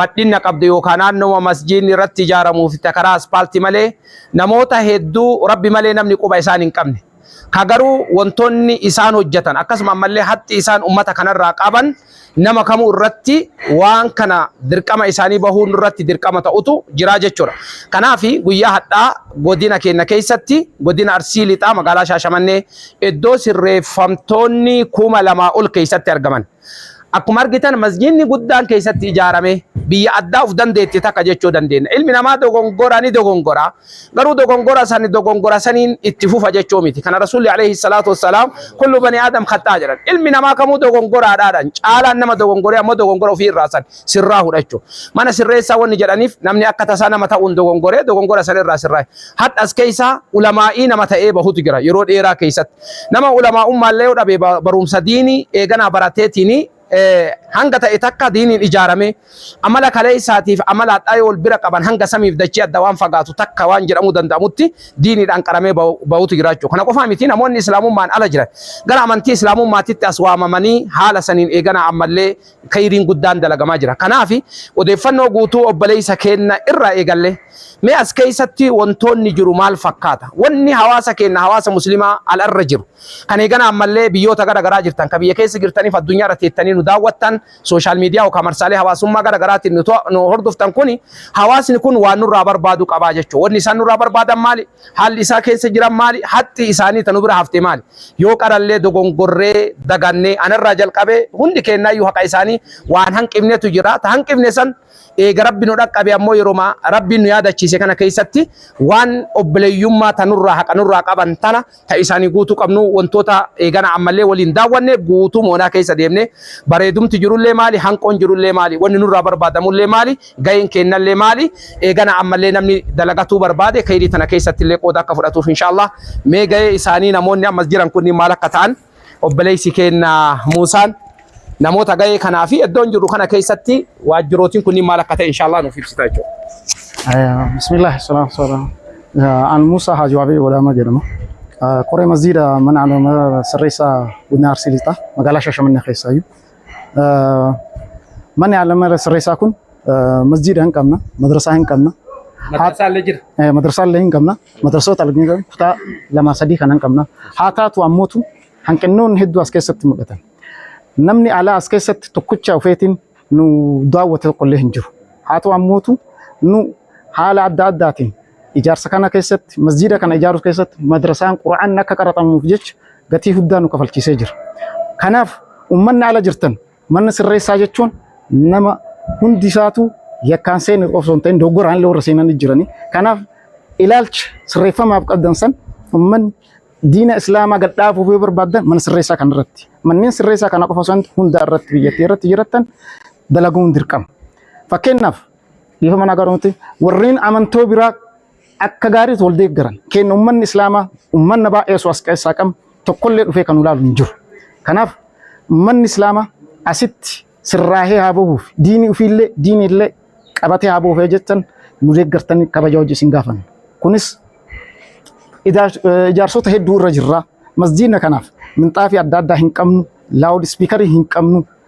badhinna qabdu yookaa naannooma masjiidni irratti ijaaramuu fi ta karaa aspaalti malee namoota hedduu Rabbi malee namni quba isaan hin qabne ka garuu wantoonni isaan hojjatan akkasuma ammallee haxxi isaan ummata kanarraa qaban nama kamuu irratti waan kana dirqama isaanii bahuu nurratti dirqama ta'utu jiraa jechuudha. Kanaaf guyyaa hadhaa godina keenya keessatti godina Arsii Lixaa magaalaa Shaashamannee iddoo sirreeffamtoonni kuma lamaa ol keessatti argaman. Akkuma argitan masjiidni guddaan keessatti ijaarame biyya addaa of dandeetti takka jechuu dandeenya. Ilmi namaa dogongora ni dogongora. Garuu dogongora sani dogongora saniin itti fufa jechuu miti. Kana Rasuulli alayhi salaatu wassalaam kullu bani aadam khaxaa jedhan. Ilmi namaa kamuu dogongoraadhaadhan. Caalaan nama dogongoree ammoo dogongora ofii irraa san sirraa hudha jechuu. Mana sirreessaa wanni jedhaniif namni akka tasaa nama ta'uun dogongoree dogongora san irraa sirraa. Hadhas keessa ulamaa'ii nama ta'ee bahutu jira yeroo dheeraa keessatti. Nama ulamaa'ummaallee yoo dhabe baruumsa diinii eeganaa barateetiin hanga ta'e takka diiniin ijaaramee amala kaleessaatiif amala hadhaa yoo wal bira qaban hanga samiif dachii adda waan fagaatu takka waan jedhamuu danda'amutti diiniidhaan qaramee bahutu jiraachuu. Kana qofaa miti namoonni islaamummaan ala jiran gara amantii islaamummaatitti as waamamanii haala saniin eeganaa ammallee kayriin guddaan dalagamaa jira. Kanaafi odeeffannoo guutuu obboleessa keenna irraa eegallee mee as keessatti wantoonni jiru maal fakkaata? Wanni hawaasa keenna hawaasa muslimaa ala irra jiru kan eegana ammallee biyyoota gara garaa jirtan kan biyya keessa jirtaniif addunyaa irra teettanii nu daawwattan sooshaal miidiyaa yookaan marsaalee hawaasummaa gara garaatiin nu hordoftan kuni hawaasni kun waan nurraa barbaadu qabaa jechuudha. Wanni isaan nurraa barbaadan maali? Haalli isaa keessa jiran maali? Haxxii isaanii ta nu bira hafte maali? Yoo qarallee dogongorree, dagannee, anarraa jalqabee hundi keennaayyuu haqa isaanii waan hanqifnetu jira. Ta hanqifne san eega Rabbi nu dhaqqabe ammoo yeroma Rabbiin nu yaadachiise kana keessatti waan obboleeyyummaa ta nurraa haqa nurraa qaban tana ta isaanii guutuu qabnu wantoota eegana ammallee waliin daawwanne guutuu moonaa keessa deemne bareedumti jirullee maali? Hanqoon jirullee maali? Wanni nurraa barbaadamullee maali? Gaheen keennallee maali? Eeganaa ammallee namni dalagatuu barbaade kheyrii tana keessattillee qooda akka fudhatuuf inshaallah. Mee gahee isaanii namoonni amma as jiran kunniin maal akka ta'an obboleessi keenna Muusaan namoota gahee kanaa fi iddoon jirru kana keessatti waajjirootiin kunniin maal akka ta'e inshaallah nuuf ibsita jechuudha. Bismillah, salaam salaam. An Muusaa Haji Waabee Wadaama jedhama. Koree masjiida mana alama sirreessaa Godina Arsii Lixaa magaalaa Shaashamannee keessaayyuu. Manni alama sirreessaa kun masjiida hin qabna, madrasaa hin qabna. Madrasaa illee jira. Madrasaa illee hin qabna. Madrasoota alganii kutaa lama sadii kan hin qabna. Haa taatu ammootu hanqinnoonni hedduu as keessatti mul'atan. Namni alaa as keessatti tokkicha ofeetiin nu daawwate tokko illee hin jiru. Haa ta'u ammootu nu haala adda addaatiin ijaarsa kana keessatti masjiida kana ijaaruu keessatti madrasaan qura'aan akka qaraxamuuf jecha gatii guddaa nu kafalchiisee jira. Kanaaf uummanni ala jirtan manna sirreessaa jechuun nama hundi isaatu yakkaan seenu osoo hin ta'in doggoraan illee warra seenan jirani. Kanaaf ilaalcha sirreeffamaaf qabdan san uummanni diina islaamaa gad dhaabuuf yoo barbaadan mana sirreessaa kana irratti manneen sirreessaa kana qofa osoo hin ta'in hundaa irratti biyyattii irratti jirattan dalaguun dirqama. Fakkeenyaaf Dhiifama nagaa dhumatti warreen amantoo biraa akka gaariitti wal deeggaran keenya uummanni islaamaa uummanna baay'ee osoo as keessaa qabnu tokkollee dhufee kan ulaalu hin jiru. Kanaaf uummanni islaamaa asitti sirraahee haa bahuuf diinii ofiillee diiniillee qabatee haa bahuuf jettan nu deeggartanii kabaja hojii isin gaafanna. Kunis ijaarsota hedduu irra jirra. Masjiidna kanaaf minxaafii adda addaa hin qabnu, laawud ispiikarii hin qabnu,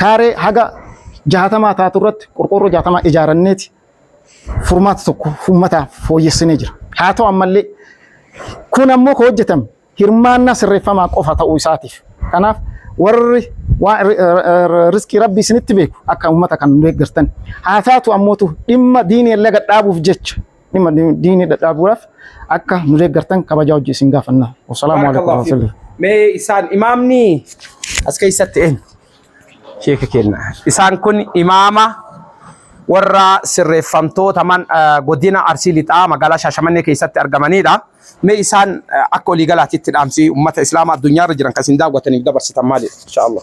kaaree haga jaatamaa taatu irratti qorqoorroo jaatamaa ijaaranneeti furmaata tokko uummataaf fooyyessinee jira. Haa ta'u ammallee kun ammoo kan hojjetame hirmaannaa sirreeffamaa qofa ta'uu isaatiif. Kanaaf warri waan riskii rabbi isinitti beeku akka uummata kan deeggartan. Haa taatu ammootu dhimma diinii laga dhaabuuf jecha dhimma diinii dhadhaabuudhaaf akka nu deeggartan kabajaa hojii isin gaafanna. Wasalaamu alaikum warahmatullahi. Mee isaan imaamni as keessatti eenyu? Sheeka kenna. Isaan kun imaama warra sirreeffamtoota man godina Arsii Lixaa magaalaa Shaashamannee keessatti argamanidha. Mee isaan akka olii galaatiitti dhaamsi uummata Islaamaa addunyaarra jiran kan isin daawwataniif dabarsitan maalidha? Inshaallah.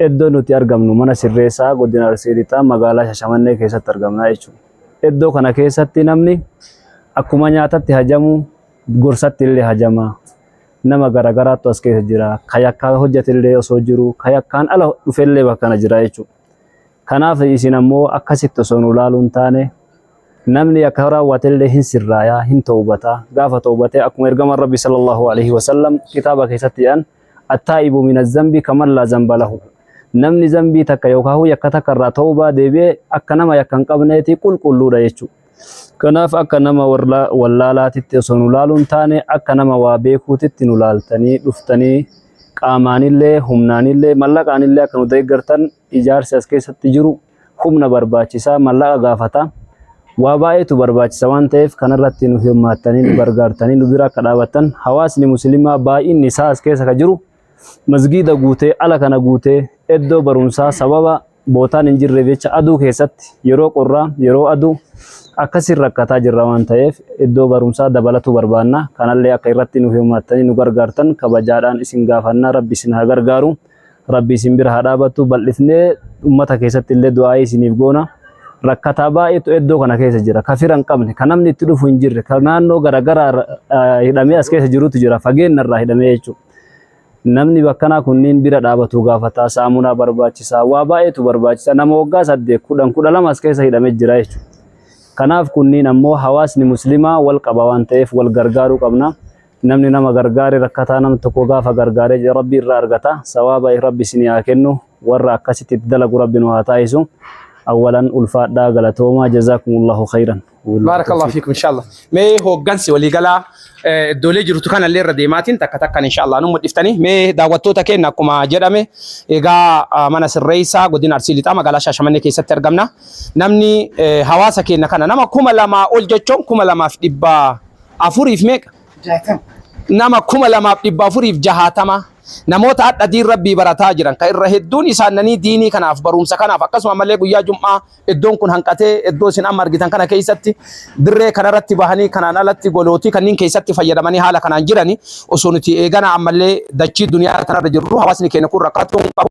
Iddoo nuti argamnu mana sirreessaa godina Arsii Lixaa magaalaa Shashamannee keessatti argamna jechuudha. Iddoo kana keessatti namni akkuma nyaatatti hajamu gorsatti illee hajama. Nama garaagaraattu as keessa jira. Ka yakkaa hojjate illee osoo jiru, ka yakkaan ala dhufe illee bakka kana jira jechuudha. Kanaaf isin ammoo akkasitti osoo nu ilaaluu hin taane namni akka raawwate illee hin sirraaya, hin tawbata. Gaafa tawbate akkuma ergamaan Rabbi sallallahu alaihi wasallam kitaaba keessatti jedhan attaa'ibu min azzambi kaman laa zamba lahu namni zambii takka yookaan yakka takka irraa tawbaa deebi'ee akka nama yakka hin qabneeti qulqulluudha jechuudha. Kanaaf akka nama wallaalaatitti osoo nu laaluun taane akka nama waa beekuutitti nu laaltanii dhuftanii qaamaanillee humnaanillee mallaqaanillee akka nu deeggartan Ijaarsi as keessatti jiru humna barbaachisa, mallaqa gaafata. Waa baay'eetu barbaachisa waan ta'eef kanarratti nu hirmaattanii nu gargaartanii nu bira akka dhaabattan hawaasni musliimaa baay'inni isaa as keessa ka jiru masgiida guutee ala kana guutee iddoo barumsaa sababa bootaan hin jirreef jecha aduu keessatti yeroo qorraa yeroo aduu akkasiin rakkataa jirra waan ta'eef iddoo barumsaa dabalatu barbaanna kanallee akka irratti nu hirmaattanii nu gargaartan kabajaadhaan isin gaafannaa rabbi isin haa gargaaru. Rabbi isin bira haa dhaabattu bal'ifnee ummata keessatti illee du'aa'ii isiniif goona. Rakkataa baay'eetu iddoo kana keessa jira. Ka fira hin qabne, ka namni itti dhufu hin jirre, ka naannoo garaagaraa irra, ah, hidhamee as keessa jirutu jira. Fageenya irraa hidhamee jechuudha. Namni bakkanaa kunniin bira dhaabatu gaafata. Saamunaa barbaachisa. Waa baay'eetu barbaachisa. Nama waggaa saddeet, kudhan, kudha lama as keessa hidhamee jira jechuudha. Kanaaf kunniin ammoo hawaasni muslimaa wal qaba waan ta'eef wal gargaaruu qabna. Namni nama gargaare rakkataa nam tokko gaafa gargaare jedhe rabbi irra argata sawaaba rabbi isin yaa kennu warra akkasitti itti dalagu rabbi nu haa taasisu awwalan ulfaadhaa galatoomaa jazaakumullaahu khayran Baarakallahu fiikum inshallah. Mee hooggansi waliigalaa eh, iddoolee jirtu kanallee irra deemaatiin takka takkan inshallah nu mul'iftanii mee daawwattoota keenya akkuma jedhame egaa ah, mana sirreessaa godina Arsii Lixaa magaalaa Shaashamannee keessatti argamna. Namni eh, hawaasa keenya kana nama kuma lamaa ol jechuun kuma lamaaf dhibbaa afuriif meeqa? Nama kuma lamaaf dhibba afuriif jahaatama. Namoota hadha diin Rabbii barataa jiran ka irra hedduun isaannanii diinii kanaaf baruumsa kanaaf akkasuma malee guyyaa jum'aa eddoon kun hanqatee eddoo isin amma argitan kana keessatti dirree kanarratti bahanii kanaan alatti golootii kanniin keessatti fayyadamanii haala kanaan jirani osoo nuti eeganaa ammallee dachii duniyaa kanarra jirru hawaasni keenya kun rakkatoo hin qabu.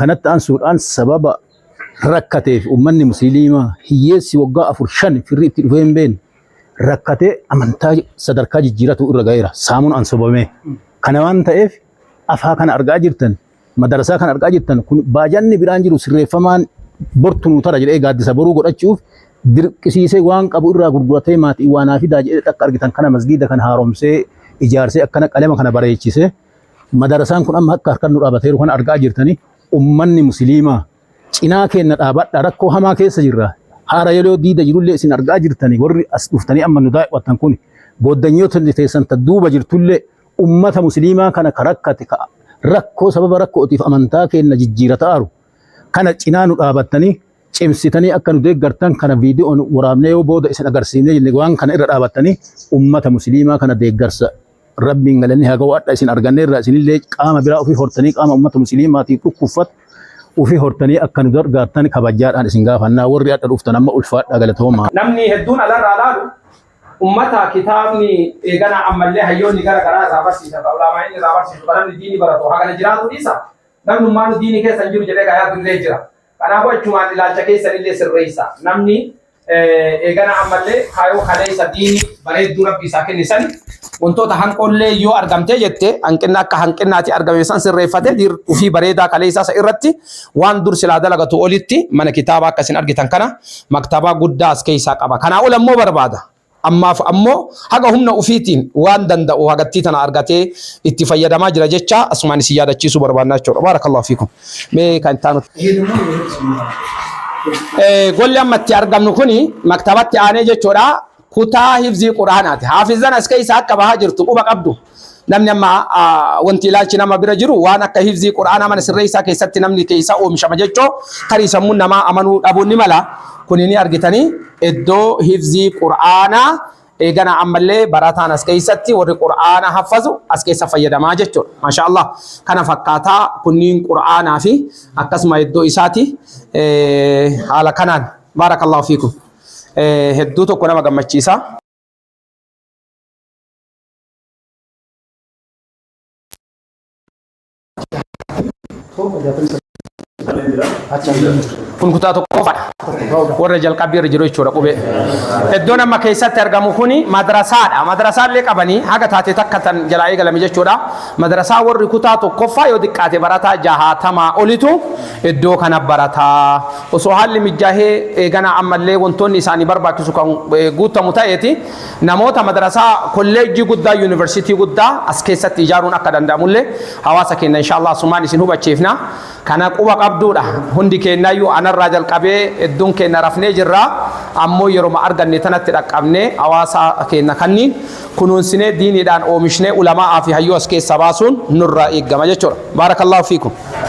Kanatti aansuudhaan sababa rakkateef uummanni musliimaa hiyyeessi waggaa afur shan firri itti dhufee hin beekne rakkatee amantaa sadarkaa jijjiiratu irra ga'eera. Saamuun ansobamee. Kana waan ta'eef afaa kana argaa jirtan madarasaa kana argaa jirtan kun baajanni biraan jiru sirreeffamaan bortu nuu tara jedhee gaaddisa boruu godhachuuf dirqisiisee waan qabu irraa gurguratee maatii waanaa fidaa jedhee akka argitan kana masgiida kana haaromsee ijaarsee akkana qalema kana bareechisee Madarasaan kun amma akka harkan nu dhaabateeru kana argaa jirtanii ummanni musiliimaa cinaa keenna dhaabadha rakkoo hamaa keessa jirra haara yeroo diida jirullee isin argaa jirtanii warri as dhuftanii amma nu daawwattan kun booddanyoota teessan ta duuba jirtullee ummata musiliimaa kana ka rakkate ka rakkoo sababa rakkootiif amantaa keenna jijjiirataaru kana cinaa nu dhaabattanii cimsitanii akka nu deeggartan kana viidiyoon waraabnee yoo booda isin agarsiifnee jenne waan kana irra dhaabattanii ummata musiliimaa kana deeggarsa Rabbiin galanni haa ga'u hadha isin arganneerra isinillee qaama biraa ofii hortanii qaama uummata musliimaatiif dhukkuffatu ofii hortanii akka nu gargaartan kabajaadhaan isin gaafannaa warri hadha dhuftan amma ulfaadhaa galatoomaa. Namni hedduun alarraa laalu ummata kitaabni eeganaa ammallee hayyoonni gara garaa irraa barsiisa ka ulaamaa inni irraa barsiisu ka namni diini baratu hagana jiraatu dhiisa namnummaanu diini keessa hin jiru jedhee gayaa dullee jira. Kanaafuu achumaan ilaalcha keessanillee sirreessaa. Namni eegana ammallee kaayoo kaleessa diini bareedduu rabbi isaa kenne san wantoota hanqoollee yoo argamtee jette hanqinna akka hanqinnaati argame san sirreeffatee diir ufii bareedaa kaleessaa isa irratti waan dur silaa dalagatu olitti mana kitaabaa akka isin argitan kana maktabaa guddaa as keessaa qaba. Kanaa ol ammoo barbaada. Ammaaf ammoo haga humna ufiitiin waan danda'u hagattii tana argatee itti fayyadamaa jira jechaa asumaan isin yaadachiisuu barbaannaa jechuudha. Baarakallaahu fiikum. Mee kan itti aanu. Golli amma itti argamnu kuni maktabatti aanee jechuudha kutaa hifzii qur'aanaati. Haafizan as keessa akka bahaa jirtu quba qabdu. Namni amma wanti ilaalchi nama bira jiru waan akka hifzii Qur'aanaa mana sirreessaa keessatti namni keessa oomishama jechoo tarii sammuun namaa amanuu dhabuun ni mala. Kuni ni argitanii iddoo hifzii Qur'aanaa eegana ammallee barataan as keessatti warri Qur'aana haffazu as keessa fayyadamaa jechuudha. Maashaa Allah kana fakkaataa kunniin Qur'aanaa fi akkasuma iddoo isaati haala kanaan baarakallahu fiikum hedduu tokko nama gammachiisa. kun kutaa tokkoffaadha warra jalqabbii irra jiru jechuudha qubee iddoon amma keessatti argamu kun madrasaadha madrasaa illee qabanii haga taate takka tan jalaa eegalame jechuudha madrasaa warri kutaa tokkoffaa yoo xiqqaate barataa jahaatamaa olitu iddoo kana barataa osoo haalli mijaahee eeganaa ammallee wantoonni isaanii barbaachisu kan eh, guutamu ta'eeti Namoota madrasaa, kolleejjii guddaa, yuuniversitii guddaa as keessatti ijaaruun akka danda'amullee hawaasa keenya inshaa Allaah asumaan isin hubachiifna. Kana quba qabduudha. Hundi keenyayyuu anarraa jalqabee hedduun keenya rafnee jirra. Ammoo yeroma arganne tanatti dhaqqabnee hawaasa keenya kanniin kunuunsinee diiniidhaan oomishnee ulamaa'aa fi hayyuu as keessaa baasuun nurraa eegama jechuudha. Baarakallaahu fiikum.